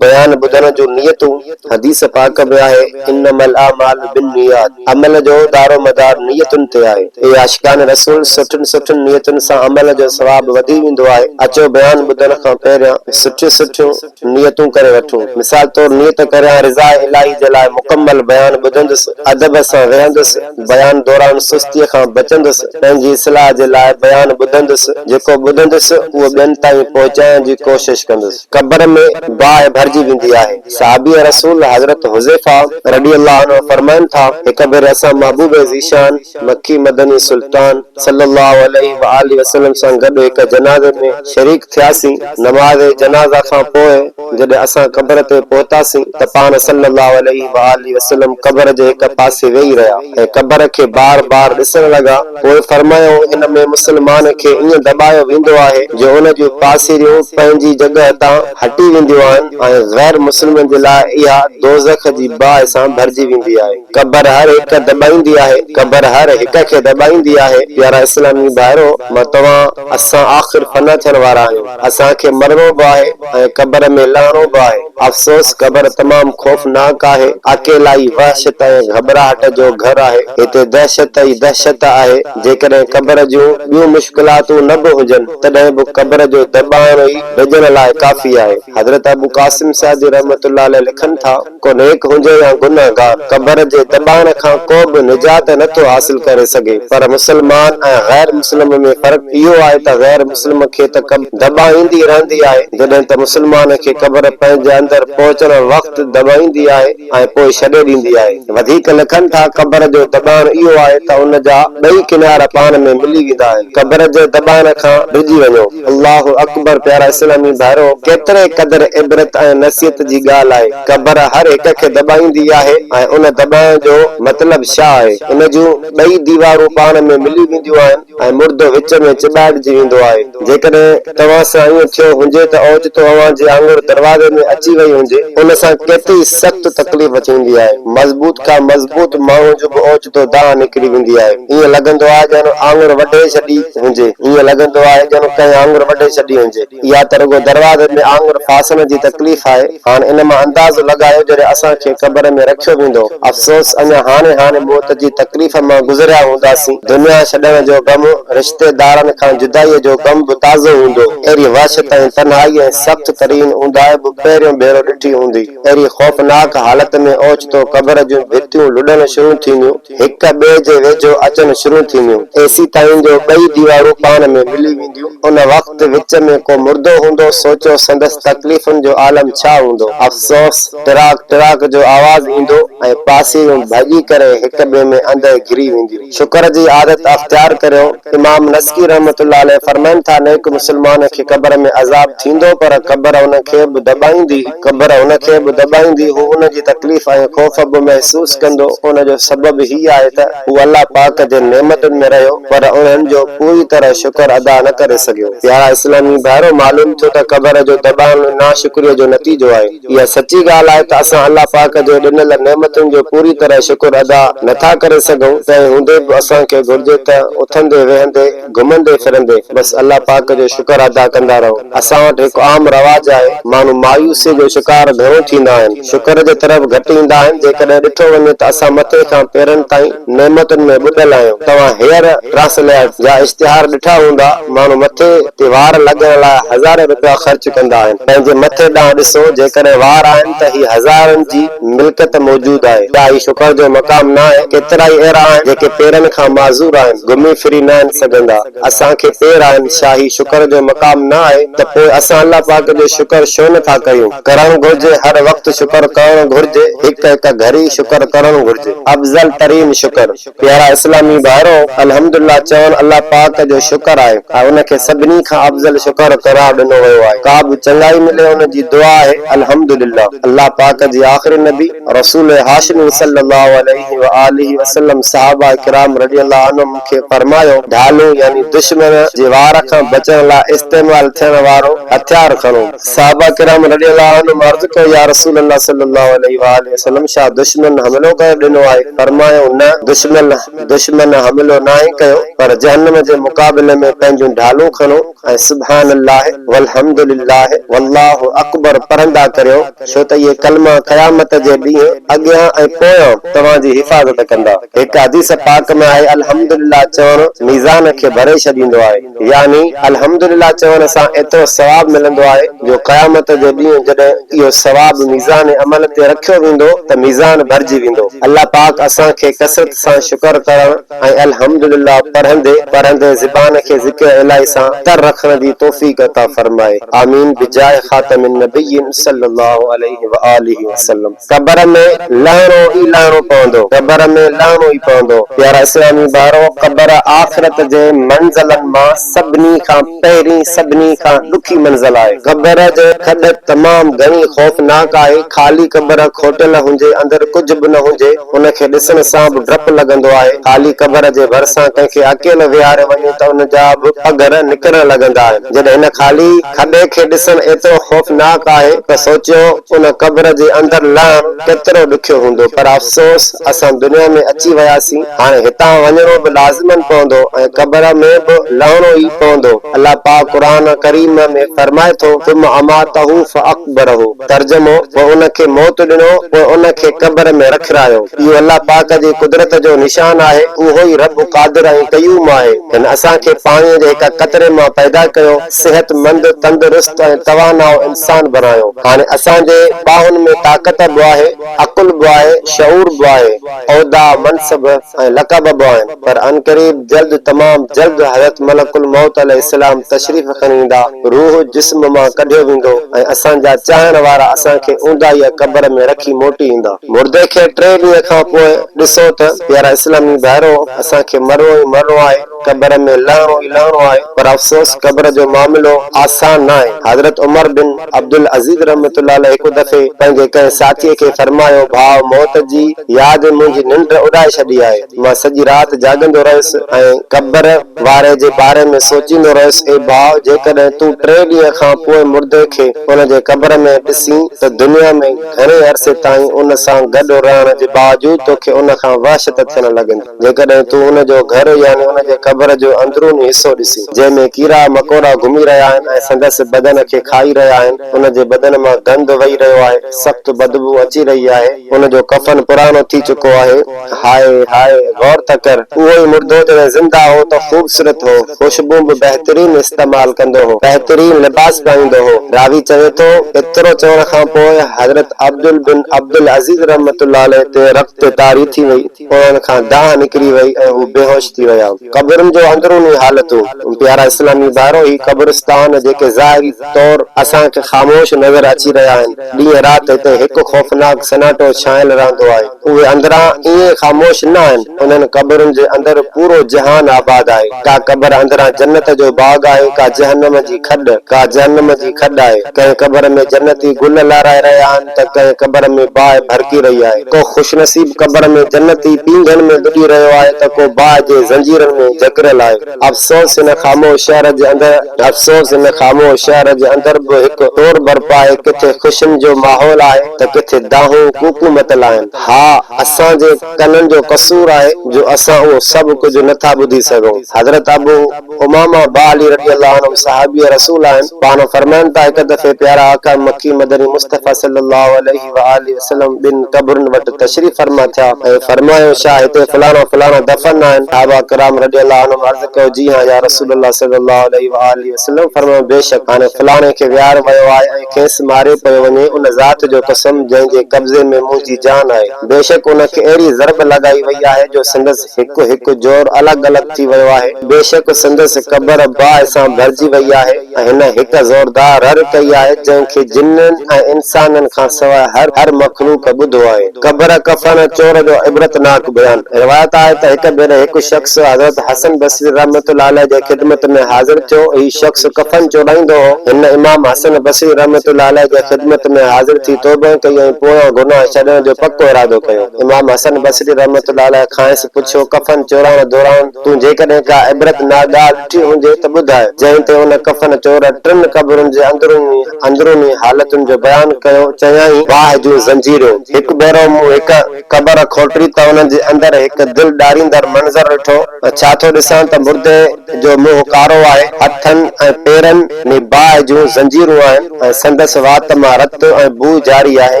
بيان ٻڌڻ جون نيتون، حديث پاڪ به آهي، انما الاعمال بالنيات، عمل جو دارومدار نيتن تي آهي، اي عاشقان رسول! سٺين سٺين نيتن سان عمل جو ثواب وڌي ويندو آهي، اچو بيان ٻڌڻ کان پهريان سٺيون سٺيون نيتون ڪري وٺون، مثال طور نيت ڪريان رضاء الاهي جي لاء مڪمل بيان ٻڌندس، ادب سان ويهندس، بيان دوران سستيء کان بچندس، پنهنجي اصلاح جي لاء بيان ٻڌندس، جيڪو ٻڌندس اهو ٻين تائين پهچائڻ جي ڪوشش ڪندس. قبر ۾ باهه ڀرجي ويندي آهي. صحابي رسول حضرت حذيفه رضي الله عنه فرمائن ٿا، هڪ ڀيري اسان محبوب ذيشان مڪي مدني سلطان صلّي الله عليه واٰله وسلّم سان گڏ هڪ جنازي ۾ شريڪ ٿياسين، نماز جنازه کان پوء جڏهن اسان قبر تي پهتاسين ته پاڻ صلّي الله عليه واٰله وسلّم قبر جي هڪ پاسي ويهي رهيا ۽ قبر کي بار بار ڏسڻ لڳا. پوء فرمايائون، ان ۾ مسلمان کي ائين دٻايو ويندو آهي جو ان جون پاسيريون پنهنجي جڳهه تان هٽي وينديون آهن ۽ غير مسلمن جي لاء اها دوزخ جي باهه سان ڀرجي ويندي آهي. قبر هر هڪ دٻائيندي آهي، قبر هر هڪ کي دٻائيندي آهي، پيارا اسلامي ڀائرو! مان توهان، اسان آخر فنا ٿيڻ وارا آهيون. اسان کي مرڻو به آهي ۽ قبر ۾ لهڻو به آهي. افسوس قبر تمام خوفناڪ آهي. اڪيلائي، وحشت ۽ گهٻراهٽ جو گهر آهي. هتي دهشت ئي دهشت آهي. جيڪڏهن قبر جون ٻيون مشڪلاتون نه به هجن، تڏهن به قبر جو دٻاڻو ئي ڊڄڻ لاء ڪافي آهي. حضرت ابوقاسم سعدي رحمة الله عليه لکن ٿا. ڪو نيڪ هجي يا گنهگار، قبر جي دٻاڻ کان ڪو به نجات نه ٿو حاصل ڪري سگهي، پر مسلمان ۽ غير مسلم ۾ فرق اهو آهي ته غير مسلم کي ته قبر دٻائيندي رهندي آهي، جڏهن ته مسلمان کي قبر پنهنجي اندر پهچڻ وقت دٻائيندي آهي ۽ پوء ڇڏي ڏيندي آهي. وڌيڪ لکن ٿا، قبر جو دٻاڻ اهو آهي ته ان جا ٻئي ڪنار پاڻ ۾ ملي ويندا آهن، قبر جي دٻاڻ کان ڊڄي وڃو. الله اڪبر پيارا اسلامي ڀائرو ڪيتري قدر عبرت ۽ نصيحت جي ڳالهه آهي قبر هر هڪ کي دٻائيندي آهي ۽ ان دٻائڻ جو مطلب شا آهي ان جون ٻئي ديوارون پاڻ ۾ ملي وينديون آهن ۽ مردو وچ ۾ چٻاٽجي ويندو آهي جيڪڏهن توهان سان ائين ٿيو هنجي ته اوچتو اوهان جي آڱر دروازي ۾ اچي وئي هنجي ان سان ڪيتري سخت تڪليف ٿيندي آهي مضبوط کان مضبوط ماڻهو جو به اوچتو دانهن نڪري ويندي آهي ائين لڳندو آهي ڄڻ آڱر وڍي ڇڏي هجي. هيئن لڳندو آهي ڄڻ ڪنهن آڱر وڍي ڇڏي هجي. اها ته رڳو دروازي ۾ آڱر ڦاسڻ جي تڪليف آهي. هاڻ ان مان اندازو لڳايو جڏهن اسان کي قبر ۾ رکيو ويندو. افسوس اڃا هاڻي هاڻي موت جي تڪليف مان گذريا هونداسين. دنيا ڇڏڻ جو غم، رشتي دارن کان جدائيء جو غم به تازو هوندو. اهڙي وحشت ۽ تنهائي ۽ سخت ترين اونداهه به پهريون ڀيرو ڏٺي هوندي. اهڙي خوفناڪ حالت ۾ اوچتو قبر جون ڀتيون لڏڻ شروع ٿينديون. هڪ ٻئي جي ويجهو اچڻ شروع ٿينديون، ايسي تائين جو ٻئي ديوارون پاڻ ۾ ملي وينديون. ان وقت وچ ۾ ڪو مردو هوندو، سوچيو سندس تڪليفن جو عالم ڇا هوندو. افسوس! ٽراڪ ٽراڪ جو آواز ايندو ۽ پاسيريون ڀڄي ڪري هڪ ٻئي ۾ اندر گهري وينديون. شڪر جي عادت اختيار ڪريو. امام نسڪي رحمة الله عليه فرمائن ٿا، نيڪ مسلمان کي قبر ۾ عذاب ٿيندو پر قبر ان کي به دٻائيندي، قبر ان کي به دٻائيندي، هو ان جي تڪليف ۽ خوف به محسوس ڪندو، ان جو سبب هي آهي ته هو الله پاڪ جي نعمتن ۾ رهيو پر انهن جو پوري طرح شڪر ادا نه ڪري سگهيو. پيارا اسلامي ڀائرو! معلوم ٿيو ته قبر جو دٻائڻ ناشڪريء جو نتيجو آهي. اها سچي ڳالهه آهي ته اسان الله پاڪ جي ڏنل نعمتن جو پوري طرح شڪر ادا نٿا ڪري سگهون، تنهن هوندي به اسان کي گهرجي ته اٿندي ويهندي، گهمندي ڦرندي بس الله پاڪ جو شڪر ادا ڪندا رهون. اسان وٽ هڪ عام رواج آهي، ماڻهو مايوسيء جو شڪار گهڻو ٿيندا آهن، شڪر جي طرف گهٽ ايندا آهن، جيڪڏهن ڏٺو وڃي ته اسان مٿي کان پيرن تائين نعمتن ۾ ٻڏل آهيون، توهان هيئر ٽرانسليئرڊ جا اشتهار ڏٺا هوندا، ماڻهو مٿي تي وار لڳڻ لاء هزارين رپيا خرچ ڪندا آهن. پنهنجي مٿي ڏانهن ڏسو، جيڪڏهن وار آهن ته هي هزارن جي ملڪيت موجود آهي. ڇا هي شڪر جو مقام ناهي؟ ڪيترائي اهڙا آهن، جيڪي پيرن کان معذور آهن، گهمي ڦري ناهن سگهندا. اسان کي پير آهن، ڇا هي شڪر جو مقام نه آهي؟ ته پوء اسان الله پاڪ جو شڪر شو نه ٿا ڪيون؟ ڪرڻ گهرجي، هر وقت شڪر ڪرڻ گهرجي، هڪ هڪ گهڙي شڪر ڪرڻ گهرجي. افضل ترين شڪر. پيارا اسلامي ڀائرو! الحمدالله چوڻ الله پاڪ جو شڪر آهي ۽ ان کي سڀني کان افضل شڪر قرار ڏنو ويو آهي، ڪابه چڱائي ملي ان جي دعا آهي، الحمدالله الله پاڪ جي آخري نبي رسول هاشمي صلّي الله عليه واٰله وسلّم صحابه ڪرام رضي الله عنهم مون کي فرمايو، ڍالون يعني دشمن جي وار کان بچڻ لاء استعمال ٿيڻ وارو هٿيار کڻو. صحابه ڪرام رضي الله عنهم عرض ڪيو، يا رسول الله صلي الله عليه واٰله وسلم! ڇا دشمن حملو ڪرڻ ڏنو آهي؟ فرمايو، نه، دشمن دشمن حملو ناهي ڪيو، پر جهنم جي مقابلي ۾ پنهنجون ڍالون کڻو ۽ سبحان الله والحمد لله والله اڪبر پڙهندا ڪريو، ڇو ته اهي ڪلما قيامت جي ڏينهن اڳيان ۽ پويان توهان جي حفاظت ڪندا. هڪ حديث پاڪ ۾ آهي، الحمد لله چوڻ ميزان کي ڀري ڇڏيندو آهي. يعني الحمدلله چوڻ سان ايترو ثواب ملندو آهي جو قيامت جي ڏينهن جڏهن اهو ثواب ميزان عمل تي رکيو ويندو ته ميزان ڀرجي ويندو. الله پاڪ اسان کي ڪثرت سان شڪر ڪرڻ ۽ الحمدلله پڙهندي پڙهندي زبان کي ذڪر الٰهي سان تر رکڻ جي توفيق عطا فرمائي. آمين بجاهه خاتم النبيين صلّي اللّٰه عليه واٰله وسلّم. قبر ۾ لهڻو ئي لهڻو پوندو. قبر ۾ لهڻو ئي پوندو. پيارا اسلامي ڀائرو! قبر آخرت جي منزلن مان سڀني کان پهرين سڀني کان ڏکي منزل آهي. قبر جي کڏ تمام گهڻي خوفناڪ آهي. خالي قبر کوٽيل هجي اندر ڪجهه به نه هجي ان کي ڏسڻ سان به ڊپ لڳندو آهي. خالي قبر جي ڀرسان ڪنهن کي اڪيلو ويهاريو وڃي ته ان جا به پگهر نڪرڻ لڳندا آهن. جڏهن هن خالي کڏي کي ڏسڻ ايترو خوفناڪ آهي ته سوچيو. ان قبر جي اندر لهڻ ڪيترو ڏکيو هوندو پر افسوس اسان دنيا ۾ اچي وياسين هاڻي هتان وڃڻو به لازمن پوندو ۽ قبر ۾ به لهڻو ئي پوندو الله پاڪ قرآن ڪريم ۾ فرمائي ٿو ثم اماته فاقبره ترجمو پوء ان کي موت ڏنو پوء ان کي قبر ۾ رکرايو اهو الله پاڪ جي قدرت جو نشان آهي اهو ئي رب قادر ۽ قيوم آهي هن اسان کي پاڻي جي هڪ قطري مان پيدا ڪيو صحت مند، تندرست ۽ توانائو انسان بڻايو. هاڻي اسان جي ٻانهن ۾ طاقت به آهي، عقل به آهي، شعور به آهي، عهدا، منصب ۽ لقب به آهن، پر عنقريب جلد تمام جلد حضرت ملڪ الموت عليه السلام تشريف کڻي ايندا، روح جسم مان ڪڍيو ويندو ۽ اسان جا چاهڻ وارا اسان کي اونداهيء قبر ۾ رکي موٽي ايندا. مردي کي ٽي ڏينهن کان پوء ڏسو ته پيارا اسلامي ڀائرو! اسان کي مرڻو ئي مرڻو آهي. قبر ۾ لهڻو ئي لهڻو آهي پر افسوس قبر جو معاملو آسان ناهي حضرت عمر بن عبدالعزيز رحمة الله عليه هڪ دفعي پنهنجي ڪنهن ساٿيء کي فرمايو ڀاء موت جي ياد منهنجي ننڊ اڏائي ڇڏي آهي مان سڄي رات جاڳندو رهيس ۽ قبر واري جي باري ۾ سوچيندو رهيس اي ڀاء جيڪڏهن تون ٽي ڏينهن کان پوء مردي کي ان جي قبر ۾ ڏسين ته دنيا ۾ گهڻي عرصي تائين ان سان گڏ رهڻ جي باوجود توکي ان کان وحشت ٿيڻ لڳندي. جيڪڏهن تون هن جو گهر يعني هن جي قبر جو اندروني حصو ڏسين، جنهن ۾ ڪيڙا مڪوڙا گهمي رهيا آهن ۽ سندس بدن کي کائي رهيا آهن، هن جي بدن مان گند وهي رهيو آهي، سخت بدبوء اچي رهي آهي، هن جو ڪفن پراڻو ٿي چڪو آهي. هاء! هاء! غور ته ڪر، اهو ئي مردو جڏهن زنده هو ته خوبصورت هو، خوشبون به بهترين استعمال ڪندو هو، بهترين لباس پائيندو هو. راوي چوي ٿو، ايترو چوڻ کان پوء حضرت عبدل بن عبدالعزيز رحمة الله عليه تي رت طاري ٿي وئي. انهن کان دانهن نڪري وئي ۽ هو بيهوش ٿي ويا. قبرن جو اندروني حالتون، پيارا اسلامي ڀائرو! هي قبرستان جيڪي ظاهري طور اسان کي خاموش نظر اچي رهيا آهن، ڏينهن رات هتي هڪ خوفناڪ سناٽو ڇانيل رهندو آهي. اهي اندران ائين خاموش نه آهن، انهن قبرن جي اندر پورو جهان آباد آهي. ڪا قبر اندران جنت جو باغ آهي، ڪا جهنم جي. کڏ، ڪا جهنم جي کڏ آهي. ڪنهن قبر ۾ جنتي گل لارائي رهيا آهن ته ڪنهن قبر ۾ باهه ڀڙڪي رهي آهي. ڪو خوشنصيب قبر ۾ جنتي پينگهن ۾ ٻڏي رهيو آهي ته ڪو باهه جي زنجيرن ۾ جڪڙيل آهي. افسوس هن خاموش شهر جي اندر. افسوس هن خاموش شهر جي اندر به هڪ ٽور برپا آهي. ڪٿي خوشين جو ماحول آهي ته ڪٿي دانهون ڪوڪون متل آهن. ها، اسان جي ڪنن جو قصور آهي جو اسان اهو سڀ ڪجهه نه ٿا ٻڌي سگهون. حضرت ابو. امامه با علي رضي الله عنهم صحابي رسول آهن، پاڻ فرمائن ٿا هڪ دفعي پيارا آقا مڪي مدني مصطفيٰ صلّي الله عليه واٰله وسلّم ٻن قبرن وٽ تشريف فرما ٿيا ۽ فرمايو، ڇا هتي فلاڻا فلاڻا دفن آهن؟ صحابه ڪرام رضي الله عنهم عرض ڪيو، جي هان يا رسول الله صلّي الله عليه واٰله وسلّم فرمايو، بيشڪ هاڻي فلاڻي کي ويار ويو آهي ۽ کيس ماريو پيو وڃي، ان ذات جو قسم جنهن جي قبضي ۾ منهنجي جان آهي، بيشڪ ان کي اهڙي ضرب لڳائي وئي آهي جو سندس. هڪ هڪ جوڙ الڳ الڳ ٿي ويو آهي. بيشڪ سندس قبر باهه سان ڀرجي وئي آهي ۽ هن هڪ زوردار رڙ ڪئي آهي جنهن کي جنن ۽ انسانن کان سواء هر هر مخلوق ٻڌو آهي. قبر ڪفڻ چور جو عبرتناڪ بيان، روايت آهي ته هڪ ڀيري هڪ شخص حضرت حسن بصري رحمة الله عليه جي خدمت ۾ حاضر ٿيو، هي شخص ڪفن چورائيندو هو، هن امام حسن بصري رحمة الله عليه جي خدمت ۾ حاضر ٿي توبه ڪئي ۽ پويان گناهه ڇڏڻ جو پڪو ارادو ڪيو. امام حسن بصري رحمة الله عليه کانئس پڇيو، ڪفن چورائڻ دوران تون جيڪڏهن ڪا عبرت ناڪ ڳالهه ڏٺي هجي ته ٻڌاء، جنهن تي ان ڪفن چور ٽن قبرن جي اندروني اندروني حالتن جو بيان ڪيو، چيائين، باهه جون زنجيرون، هڪ ڀيرو مون هڪ قبر کوٽري ته ان جي اندر هڪ دل ڏاريندڙ منظر ڏٺو، ڇا ٿو ڏسان ته مردي جو منهن ڪارو آهي، هٿن ۽ پيرن ۾ باهه جون زنجيرون آهن. ۽ سندس وات مان رت ۽ بوء جاري آهي،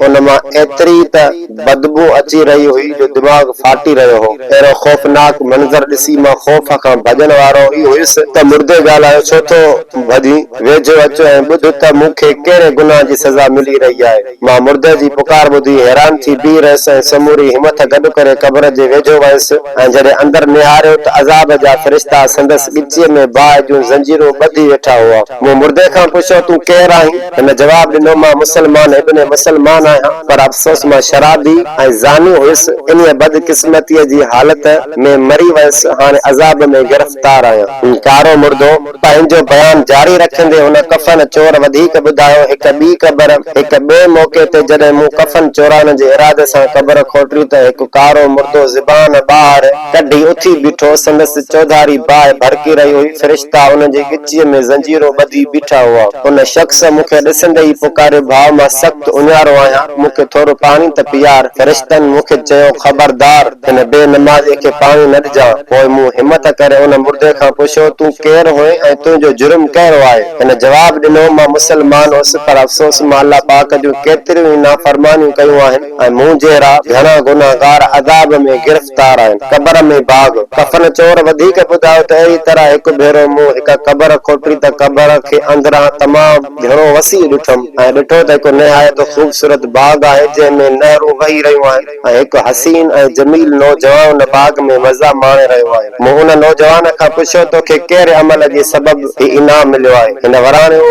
ان مان ايتري ته بدبوء اچي رهي هئي جو دماغ ڦاٽي رهيو هو. اهڙو خوفناڪ منظر ڏسي مان خوف کان ڀڄڻ وارو ئي هيس ته مردي ڳالهايو ڇو ٿو ڀڄين، ويجهو اچ ۽ ٻڌ ته مون کي ڪهڙي گناهه جي سزا ملي رهي آهي. مان مردي جي پڪار ٻڌي حيران ٿي بيهي رهيس ۽ سموري همٿ گڏ ڪري قبر جي ويجهو ويس ۽ جڏهن اندر نهاريو ته عذاب جا فرشتا سندس ڳچيء ۾ باهه جون زنجيرون ٻڌي ويٺا هئا. مون مردي کان پڇيو، تون ڪير آهين؟ هن جواب ڏنو، مان مسلمان ابن مسلمان آهيان، پر افسوس مان شرابي ۽ زاني هيس، انهيء بدقسمتيء جي حالت ۾ مري ويس، هاڻي عذاب ۾ گرفتار آهيان. هو ڪارو مردو پنهنجو بيان جاري رکندي هن ڪفن چور وڌيڪ ٻڌايو، هڪ ٻي قبر، هڪ ٻئي موقعي تي جڏهن مون ڪفن چورائڻ جي ارادي سان قبر کوٽري ته هڪ ڪارو مردو زبان ٻاهر ڪڍي اٿي بيٺو، سندس چوڌاري باهه ڀڙڪي رهي هئي، فرشتا ان جي ڳچيء ۾ زنجيرون ٻڌي بيٺا هئا. ان شخص مون کي ڏسندي ئي پڪاريو، ڀاء مان سخت اڃارو آهيان، مون کي ٿورو پاڻي ته پيار. فرشتن مون کي چيو، خبردار! ان بي نمازيء کي پاڻي نه ڏجان. پوء مون همت ڪري ان مردي کان پڇيو، تون ڪير هئين ۽ تنهنجو جرم ڪهڙو آهي؟ هن جواب ڏنو، مان مسلمان هوس، پر افسوس مان الله پاڪ جون ڪيتريون ئي نافرمانيون ڪيون آهن ۽ مون جهڙا گهڻا گنهگار عذاب ۾ گرفتار آهن. قبر ۾ باگهه. ڪفن چور وڌيڪ ٻڌايو ته اهڙي طرح هڪ ڀيرو مون هڪ قبر کوٽي ته قبر کي اندران تمام گهڻو وسيع ڏٺم ۽ ڏٺو ته هڪ نهايت خوبصورت باغ آهي، جنهن ۾ نهرون وهي رهيون آهن. ۽ هڪ حسين ۽ جميل نوجوان باغ ۾ مزا ماڻي رهيو آهي. مون ان نوجوان کان پڇيو، تو کي ڪهڙي عمل جي سبب هي انعام مليو آهي؟ هن وراڻيو،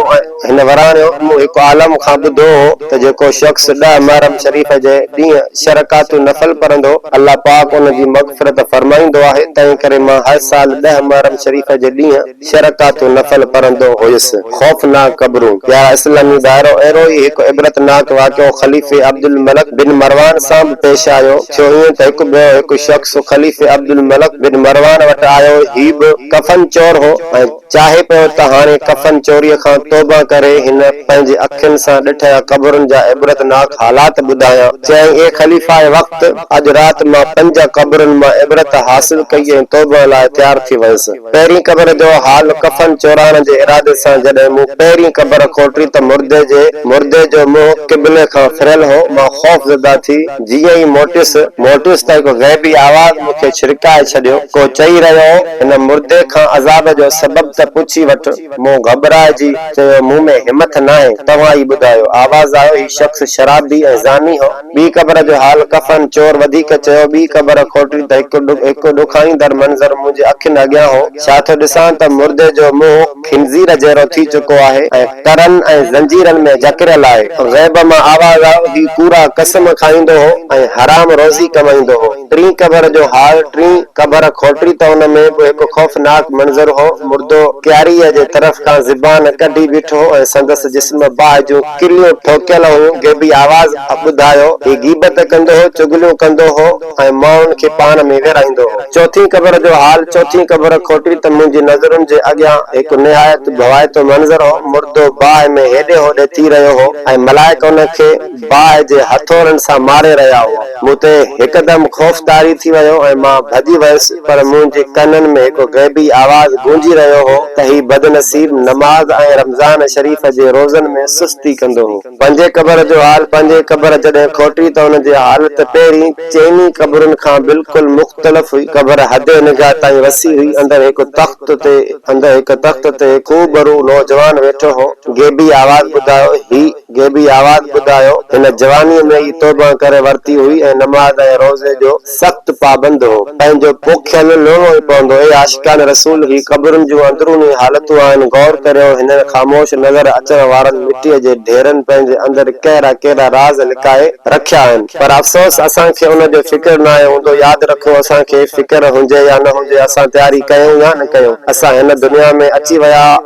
هن وراڻيو، مون هڪ عالم کان ٻڌو هو ته جيڪو شخص ڏهه محرم شريف جي ڏينهن ڇهه رڪعتون نفل پڙهندو، الله پاڪ ان جي مغفرت فرمائيندو آهي، تنهنڪري مان هر سال ڏهه محرم شريف جي ڏينهن. شرڪات النفل پڙهندو هيس. خوفناڪ قبرون. پيارا اسلامي ڀائرو! اهڙو ئي هڪ عبرتناڪ واقعو خليفي عبدالملڪ بن مروان سان به پيش آيو. ٿيو ائين ته هڪ ٻيو هڪ شخص خليفي عبدالملڪ بن مروان وٽ آيو. هي به ڪفن چور هو ۽ چاهي پيو ته هاڻي ڪفن چوريء کان توبه ڪري هن پنهنجي اکين سان ڏٺيا قبرن جا عبرتناڪ حالات ٻڌايان. چيائين، اي خليفاء وقت! اڄ رات مان پنج قبرن مان عبرت حاصل ڪئي ۽ توبه لاء تيار ٿي ويس. پهرين قبر جو حال ڪفن چورائڻ جي ارادي سان جڏهن مون پهرين قبر کوٽي ته مردي جي مردي جو منهن قبلي کان ڦريل هو مان خوف زده ٿي جيئن ئي موٽيس موٽيس ته هڪ غيبي آواز مون کي ڇرڪائي ڇڏيو ڪو چئي رهيو هو هن مردي کان عذاب جو سبب ته پڇي وٺ مون گهٻرائجي چيو مون ۾ همٿ ناهي توهان ئي ٻڌايو آواز آيو هي شخص شرابي ۽ زاني هو. ٻي قبر جو حال ڪفن چور وڌيڪ چيو، ٻي قبر کوٽي ته هڪ ڏکائيندڙ منظر منهنجي اکين اڳيان هو، ڇا ٿو ڏسان ته مردي جو منهن خنزير جهڙو ٿي چڪو آهي ۽ ترن ۽ زنجيرن ۾ جڪڙيل آهي. غيب مان آواز آيو، هي ڪوڙا قسم کائيندو هو ۽ حرام روزي ڪمائيندو هو. ٽين قبر جو حال ٽين قبر کوٽي ته ان ۾ به هڪ خوفناڪ منظر هو، مردو ڪياريء جي طرف کان زبان ڪڍي بيٺو هو ۽ سندس جسم باهه جون ڪليون ٺوڪيل هيون، غيبي آواز ٻڌايو، هي غيبت ڪندو هو، چغليون ڪندو هو ۽ ماڻهن کي پاڻ ۾ ويرائيندو هو. چوٿين قبر جو حال، چوٿين قبر کوٽي ته منهنجي نظرن جي اڳيان هڪ نهايت ڀوائتو منظر هو، مردو باهه ۾ هيڏي هوڏي ٿي رهيو هو ۽ ملائڪ ان کي باهه جي هٿورن سان ماري رهيا هئا. مون تي هڪدم خوف طاري ٿي ويو ۽ مان ڀڄي ويس پر منهنجي ڪنن ۾ هڪ غيبي آواز گونجي رهيو هو ته هي بدنصيب نماز ۽ رمضان شريف جي روزن ۾ سستي ڪندو هو. پنهنجي قبر جو حال پنهنجي قبر جڏهن کوٽي ته ان جي حالت پهرين چئني قبرن کان بلڪل مختلف هئي. قبر حد نگاهه تائين وسيع هئي. اندر هڪ تخت تي اندر هڪ تخت تي هڪ خوبرو نوجوان ويٺو هو. غيبي آواز ٻڌايو، هي. غيبي آواز ٻڌايو. هن جوانيء ۾ ئي توبه ڪري ورتي هئي ۽ نماز ۽ روزي جو سخت پابند هو. پنهنجو پوکيل لوڻو ئي پوندو. اي عاشقان رسول! هي قبرن جون اندروني حالتون آهن. غور ڪريو، هنن خاموش نظر اچڻ وارن مٽيء جي ڍيرن پنهنجي اندر ڪهڙا ڪهڙا راز لڪائي رکيا آهن. پر افسوس اسان کي ان جو فڪر ناهي هوندو. ياد رکو، اسان کي فڪر هجي يا نه هجي، اسان تياري ڪيون يا نه ڪيون، اسان هن دنيا ۾ اچي ويا،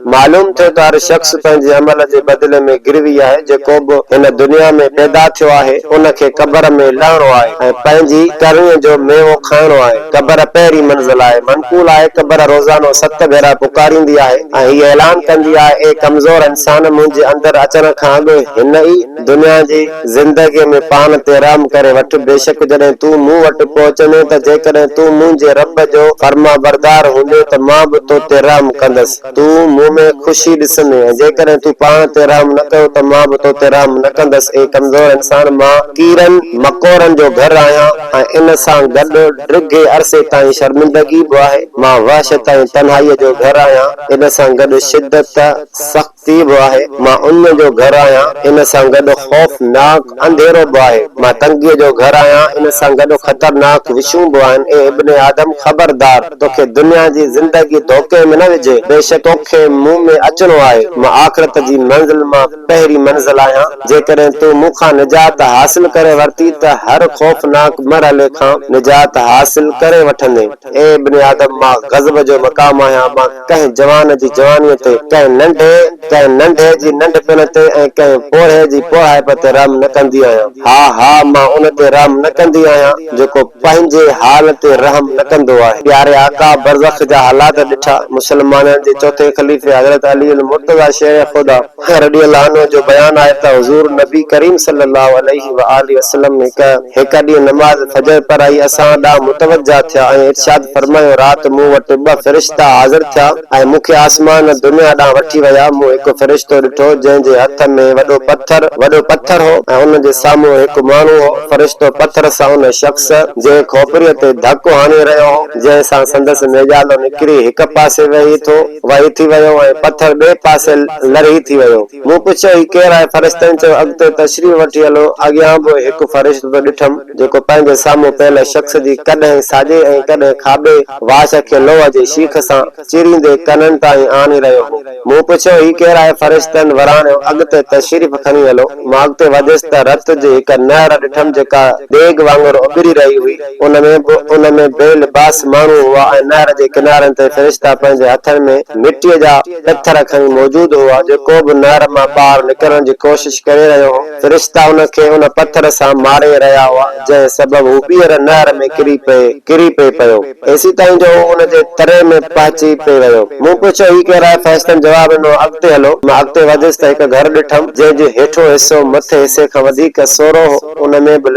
معلوم ٿئي ته هر شخص پنهنجي عمل جي بدلي ۾ گروي آهي، جيڪو به هن دنيا ۾ پيدا ٿيو آهي، ان کي قبر ۾ لهڻو آهي ۽ پنهنجي ڪرڻيء جو ميوو کائڻو آهي. قبر پهرين منزل آهي. منقول آهي، قبر روزانو ست ڀيرا پڪاريندي آهي ۽ هيء اعلان ڪندي آهي، اي ڪمزور انسان! منهنجي اندر اچڻ کان اڳ هن ئي دنيا جي. زندگيء ۾ پاڻ تي رحم ڪري وٺ، بيشڪ جڏهن تون مون وٽ پهچندين ته جيڪڏهن تون منهنجي رب جو فرمانبردار هوندين ته مان به تو تي رحم ڪندس، تون مون ۾ خوشي ڏسندين ۽ جيڪڏهن تون پاڻ تي رحم نه ڪيو ته مان به تو تي رحم نه ڪندس، اي ڪمزور انسان! مان ڪيڙن مڪوڙن جو گهر آهيان ۽ ان سان گڏ ڊگهي عرصي تائين شرمندگي به آهي، مان وحشت ۽ تنهائيء جو گهر آهيان، ان سان گڏ شدت، سخت. تي به آهي، مان اڃ جو گهر آهيان، ان سان گڏ خوفناڪ انڌيرو به آهي، مان تنگيء جو گهر آهيان، ان سان گڏ خطرناڪ وشون به آهن، اي ابن آدم! خبردار! توکي دنيا جي زندگي ڌوڪي ۾ نه وجهي، بيشڪ توکي مون ۾ اچڻو آهي، مان آخرت جي منزل مان پهرين منزل آهيان، جيڪڏهن تون مون کان نجات حاصل ڪري ورتي ته هر خوفناڪ مرحلي کان نجات حاصل ڪري وٺندين، اي ابن آدم! مان غضب جو مقام آهيان، مان. ڪنهن جوان جي جوانيء تي، ڪنهن ننڍي، ڪنهن ننڍي جي ننڍپڻ تي ۽ ڪنهن پوڙهي جي پوڙهائپ تي رحم نه ڪندي آهيان. ها، ها، مان ان تي رحم نه ڪندي آهيان، جيڪو پنهنجي حال تي رحم نه ڪندو آهي. پياري آقا برزخ جا حالات ڏٺا، مسلمانن جي چوٿين خليفي حضرت علي المرتضيٰ شير خدا، عمر رضي الله عنه جو بيان آهي ته حضور نبي ڪريم صلي الله عليه وآله وسلم هڪ هڪ ڏينهن نماز فجر پڙهائي اسان ڏانهن متوجهه ٿيا ۽ ارشاد فرمايو رات مون وٽ ٻه فرشتا حاضر ٿيا ۽ مون کي آسمان دنيا ڏانهن وٺي ويا مون هڪ فرشتو ڏٺو جنهن جي هٿ ۾ وڏو پٿر وڏو پٿر هو ۽ ان جي سامهون هڪ ماڻهو هو فرشتو پٿر سان ان شخص جي کوپريء تي ڌڪ هڻي رهيو هو جنهن سان سندس نيڄالو نڪري هڪ پاسي وهي ٿو وهي ٿي ويو ۽ پٿر ٻئي پاسي لرهي ٿي ويو. مون پڇيو، هي ڪير آهي؟ فرشتن چيو، اڳتي تشريف وٺي هلو، اڳيان به هڪ فرشتو ڏٺم، جيڪو پنهنجي سامهون پيل شخص جي ڪڏهن ساڄي ۽ ڪڏهن کاٻي واڇ کي لوهه جي شيخ سان چيريندي ڪنن تائين آڻي رهيو هو. مون پڇيو، هي ڪير آهي؟ فرشتن وراڻيو، اڳتي تشريف کڻي هلو. مان اڳتي وڌيس ته رت جي هڪ نهر ڏٺم، جيڪا ديڳ وانگر اٻري رهي هئي. ان ۾ به ان ۾ بي لباس ماڻهو هئا ۽ نهر جي ڪنارن تي فرشتا پنهنجي هٿن ۾ مٽيء جا پٿر کڻي موجود هئا، جيڪو به نهر مان ٻاهر نڪرڻ جي ڪوشش ڪري رهيو هو، فرشتا ان کي ان پٿر سان ماري رهيا هئا، جنهن سبب هو ٻيهر نهر ۾ ڪري پئي ڪري پئي پيو. ايسيتائين جو هو ان جي تري ۾ پهچي پئي ويو. مون پڇيو، هي ڪير آهي؟ فرشتن جواب ڏنو، اڳتي هلو. مان اڳتي وڌيس ته هڪ گهر ڏٺم، جنهن جو هيٺون حصو مٿي حصي کان وڌيڪ سورو هو. ان ۾ به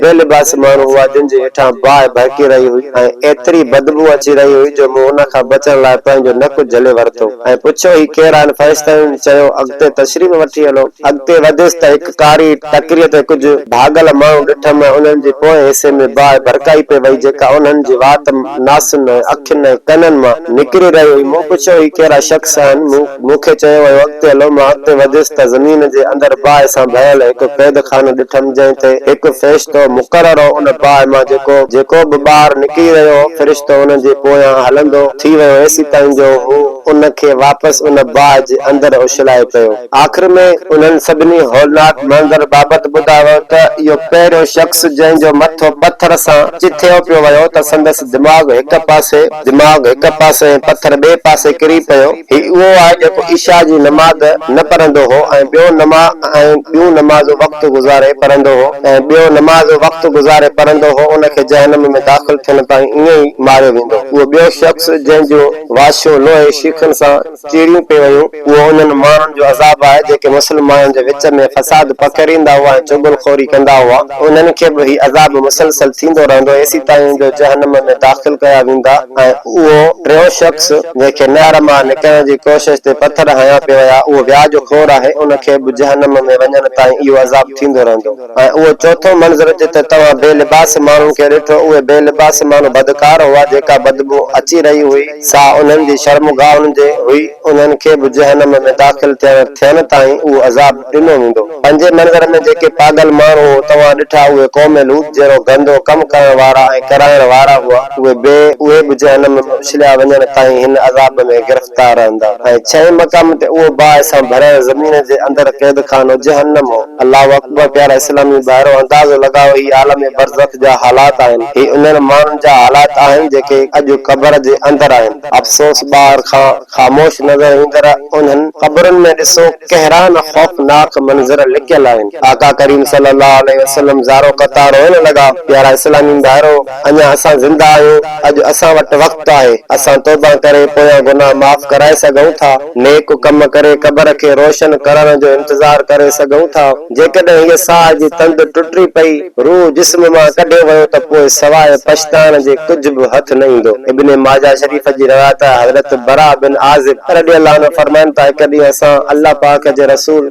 اهي لباسي ماڻهو هئا، جن جي هيٺان باهه ڀڙڪي رهي هئي ۽ ايتري بدبوء اچي رهي هئي جو مون ان کان بچڻ لاء پنهنجو نڪ جهلي ورتو ۽ پڇيو، هي ڪير آهن؟ فرشتن چيو، اڳتي تشريف وٺي هلو. اڳتي وڌيس ته هڪ ڪاري ٽڪريء تي ڪجهه ڀاڳل ماڻهو ڏٺم ۽ انهن جي پوئين حصي ۾ باهه ڀڙڪائي پئي وئي، جيڪا انهن جي وات، ناسن ۽ اکين ۽ ڪنن مان نڪري رهي هئي. مون پڇيو، هي ڪهڙا شخص آهن؟ مون. مون کي چيو ويو اڳتي هلو، مان اڳتي وڌيس ته زمين جي اندر باهه سان ڀريل هڪ قيد خانو ڏٺم جنهن تي هڪ فرشتو مقرر هو ان باهه مان جيڪو جيڪو به ٻاهر نڪري رهيو هو فرشتو ان جي پويان هلندو ٿي ويو ايسي تائين جو هو ان کي واپس ان باهه جي اندر اڇلائي پيو آخر ۾ انهن سڀني هولناڪ منظر بابت ٻڌايو ويو ته اهو پهريون شخص جنهن جو مٿو پٿر سان چٿيو پيو ويو ته سندس دماغ هڪ پاسي، دماغ هڪ پاسي ۽ پٿر ٻئي پاسي ڪري پيو. هي اهو آهي جيڪو عشاء جي نماز نه پڙهندو هو ۽ ٻيو نما ۽ ٻيون نمازون وقت گذاري پڙهندو هو ۽ ٻيو نماز وقت گذاري پڙهندو هو ان کي جهنم ۾ داخل ٿيڻ تائين ائين ئي ماريو ويندو. اهو ٻيو شخص جنهن جون واشيون لوهي شيخن سان چيريون پئي ويون، اهو انهن ماڻهن جو عذاب آهي، جيڪي مسلمانن جي وچ ۾ فساد پکيڙيندا هئا ۽ چغل خوري ڪندا هئا، انهن کي به هي عذاب مسلسل ٿيندو رهندو، ايسيتائين جو جهنم ۾ داخل ڪيا ويندا ۽ اهو ٽيون شخص، جنهن کي نهر مان نڪرڻ جي ڪوشش تي پٿر هنيا پئي ويا، اهو وياج خور آهي، ان کي به جهنم ۾ وڃڻ تائين اهو عذاب ٿيندو رهندو. ۽ اهو چوٿون منظر جتي توهان بي لباس ماڻهن کي ڏٺو، اهي بي لباس ماڻهو بدڪار هئا، جيڪا بدبوء اچي رهي هئي، سا انهن جي شرمگاهن جي هئي، انهن کي به جهنم ۾ داخل ٿيڻ ٿين تائين اهو عذاب ڏنو ويندو. پنجين منظر ۾ جيڪي پاڳل ماڻهو توهان ڏٺا، اهي قوم لوط جهڙو گندو ڪم ڪرڻ وارا ۽ ڪرائڻ وارا هئا، اهي به اهي به جهنم ۾ اڇليا وڃڻ تائين هن عذاب ۾ گرفتار رهندا. ۽ ڇهين مقام تي اهو باهه سان ڀريل زمين جي اندر قيدخانو جهنم هو. الله اڪبر پيارا اسلامي ڀائرو اندازو لڳايو هي عالم برزخ جا حالات آهن هي انهن ماڻهن جا حالات آهن جيڪي اڄ قبر جي اندر آهن افسوس ٻاهر کان خاموش نظر ايندڙ انهن قبرن ۾ ڏسو ڪهڙا نه خوفناڪ منظر لڪيل آهن آقا ڪريم صلي الله عليه وسلم زارو قطار روئڻ لڳا پيارا اسلامي ڀائرو! اڃا اسان زنده آهيون، اڄ اسان وٽ وقت آهي، اسان توبه ڪري پويان گناهه معاف ڪرائي سگهون ٿا، نيڪ ڪم ڪري قبر کي روشن ڪرڻ جو انتظار ڪري سگهون ٿا، جيڪڏهن هيء ساهه جي تند ٽٽي پئي، روح جسم مان ڪڍيو ويو ته پوء سواء پڇتائڻ جي ڪجهه به هٿ نه ايندو. ابن ماجه شريف جي روايت آهي حضرت براء بن عازب رضي الله عنه فرمائن ٿا هڪ ڏينهن اسان الله پاڪ جي رسول،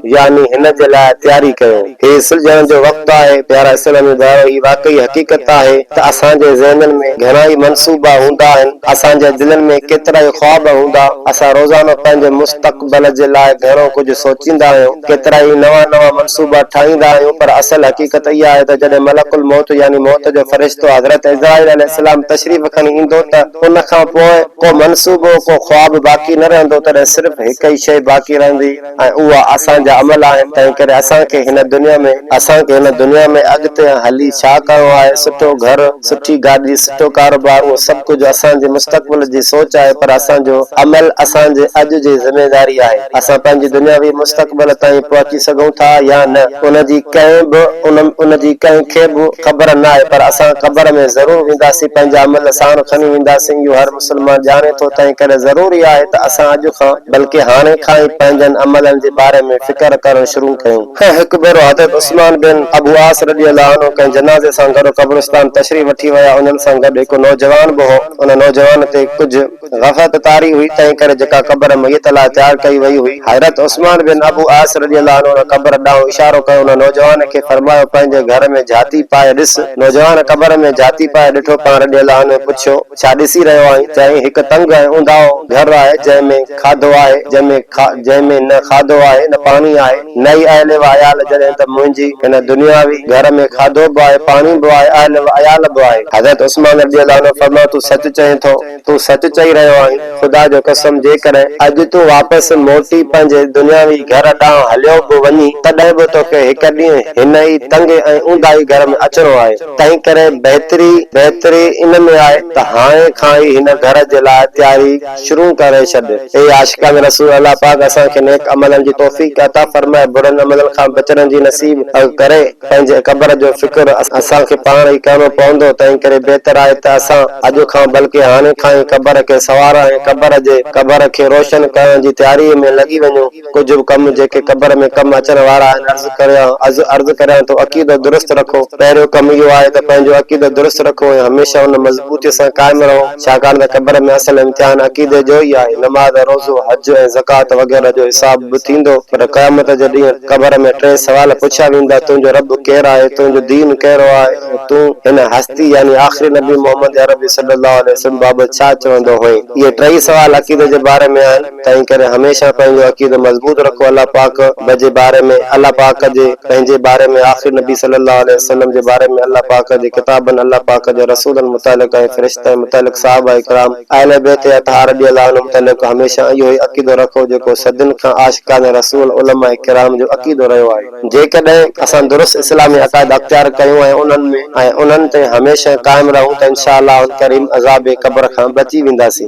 يعني هن جي لاء تياري ڪيو. هي سلجهڻ جو وقت آهي. پيارا اسلامي ڀائرو هي واقعي حقيقت آهي ته اسان جي ذهنن ۾ گهڻائي منصوبا هوندا آهن، اسان جي دلين ۾ ڪيترائي خواب هوندا، اسان روزانو پنهنجي مستقبل جي لاء گهڻو ڪجهه سوچيندا آهيون، ڪيترائي نوان نوان منصوبا ٺاهيندا آهيون پر اصل حقيقت اها آهي ته جڏهن ملڪ الموت يعني موت جو فرشتو حضرت عزرائيل عليه السلام تشريف کڻي ايندو ته ان کان پوء ڪو منصوبو ڪو خواب باقي نه رهندو تڏهن صرف هڪ ئي شيء باقي رهندي ۽ اها اسان جا عمل آهن، تنهنڪري اسان کي هن دنيا ۾، اسان کي هن دنيا ۾ اڳتي هلي ڇا ڪرڻو آهي، سٺو گهر، سٺي گاڏي، سٺو ڪاروبار، اهو سڀ ڪجهه اسان جي مستقبل جي سوچ آهي، پر اسان جو عمل اسان جي اڄ جي ذميواري آهي، اسان پنهنجي دنياوي مستقبل تائين پهچي سگهون ٿا يا نه، ان جي ڪنهن به، ان جي ڪنهن کي به خبر ناهي، پر اسان قبر ۾ ضرور وينداسين، پنهنجا عمل ساڻ کڻي وينداسين، اهو هر. مسلمان ڄاڻي ٿو تنهن ڪري ضروري آهي ته اسان اڄ کان بلڪه هاڻي کان ئي پنهنجن عملن جي باري ۾ فڪر ڪرڻ شروع ڪيون. ۽ هڪ ڀيرو حضرت عثمان بن ابو عاص رضي الله عنه ڪنهن جنازي سان گڏ قبرستان تشريف وٺي ويا انهن سان گڏ هڪ نوجوان به هو ان نوجوان تي ڪجهه غفلت طاري هئي تنهن ڪري جيڪا قبر ميت لاء تيار ڪئي وئي هئي حضرت عثمان بن ابو عاص رضي الله عنه ان قبر ڏانهن اشارو ڪيو ان نوجوان کي فرمايو پنهنجي گهر ۾ جهاتي پائي ڏس نوجوان قبر ۾ جهاتي پائي ڏٺو پاڻ رضي الله عنه پڇيو ڇا ڏسي رهيو آهين؟ چيائين، هڪ تنگ ۽ اونداهو گهر آهي، جنهن ۾ کاڌو آهي، جنهن ۾ کا، جنهن ۾ نه کاڌو آهي، نه پاڻي آهي. نه ئي اهل و عيال، جڏهن ته منهنجي هن دنياوي گهر ۾ کاڌو به آهي، پاڻي به آهي، اهل و عيال به آهي. حضرت عثمان رضي الله عنه فرمايو، تون سچ چئين ٿو، تون سچ چئي رهيو آهين، خدا جو قسم جيڪڏهن اڄ تون واپس موٽي پنهنجي دنياوي گهر ڏانهن هليو به وڃين، تڏهن به توکي هڪ ڏينهن هن ئي تنگ ۽ اونداهي گهر ۾ اچڻو آهي. تنهنڪري بهتري بهتري ان ۾ آهي ته هاڻي کان ئي هن گهر جي لاء تياري شروع ڪري ڇڏ. اي عاشقان رسول! الله پاڪ اسان کي نيڪ عملن جي توفيق عطا فرمائي، برن عملن کان بچڻ جي نصيب ڪري. پنهنجي قبر جو فڪر اسان کي پاڻ ئي ڪرڻو پوندو، تنهنڪري بهتر آهي ته اسان اڄ کان بلڪه هاڻي کان ئي قبر کي سنوارڻ ۽ قبر جي قبر کي روشن ڪرڻ جي تياريء ۾ لڳي وڃون. ڪجهه به ڪم جيڪي قبر ۾ ڪم اچڻ وارا آهن عرض ڪريان عرض ڪريان ٿو عقيدو درست رکو پهريون ڪم اهو آهي ته پنهنجو عقيدو درست رکو ۽ هميشه ان مضبوطي سان قائم رهو ڇاڪاڻ ته قبر ۾ اصل امتحان عقيدي جو ئي آهي نماز روزو حج ۽ زڪوات وغيره جو حساب به ٿيندو پر قيامت جي ڏينهن قبر ۾ ٽي سوال پڇيا ويندا تنهنجو رب ڪير آهي تنهنجو دين ڪهڙو آهي ۽ تون هن هستي يعني آخري نبي محمد عربي صلي الله عليه وسلم بابت ڇا چوندو هئين اهي ٽئي سوال عقيدي جي باري ۾ آهن. تنهن ڪري هميشه پنهنجو عقيدو مضبوط رکو الله پاڪ بجي باري ۾ الله پاڪ جي پنهنجي باري ۾ آخري نبي صلي الله عليه وسلم جي باري ۾ الله پاڪ جي ڪتابن الله پاڪ جي رسولن متعلق ۽ فرشتن متعلق صحابه ڪرام اهل بيت اطهار رضي الله عنهم متعلق هميشه اهو ئي عقيدو رکو جيڪو صدين کان عاشقان رسول علماء ڪرام جو عقيدو رهيو آهي جيڪڏهن اسان درست اسلامي عقائد اختيار ڪيون ۽ انهن ۾ ۽ انهن تي هميشه قائم رهون ته انشاء الله الڪريم عذاب قبر کان بچي وينداسين.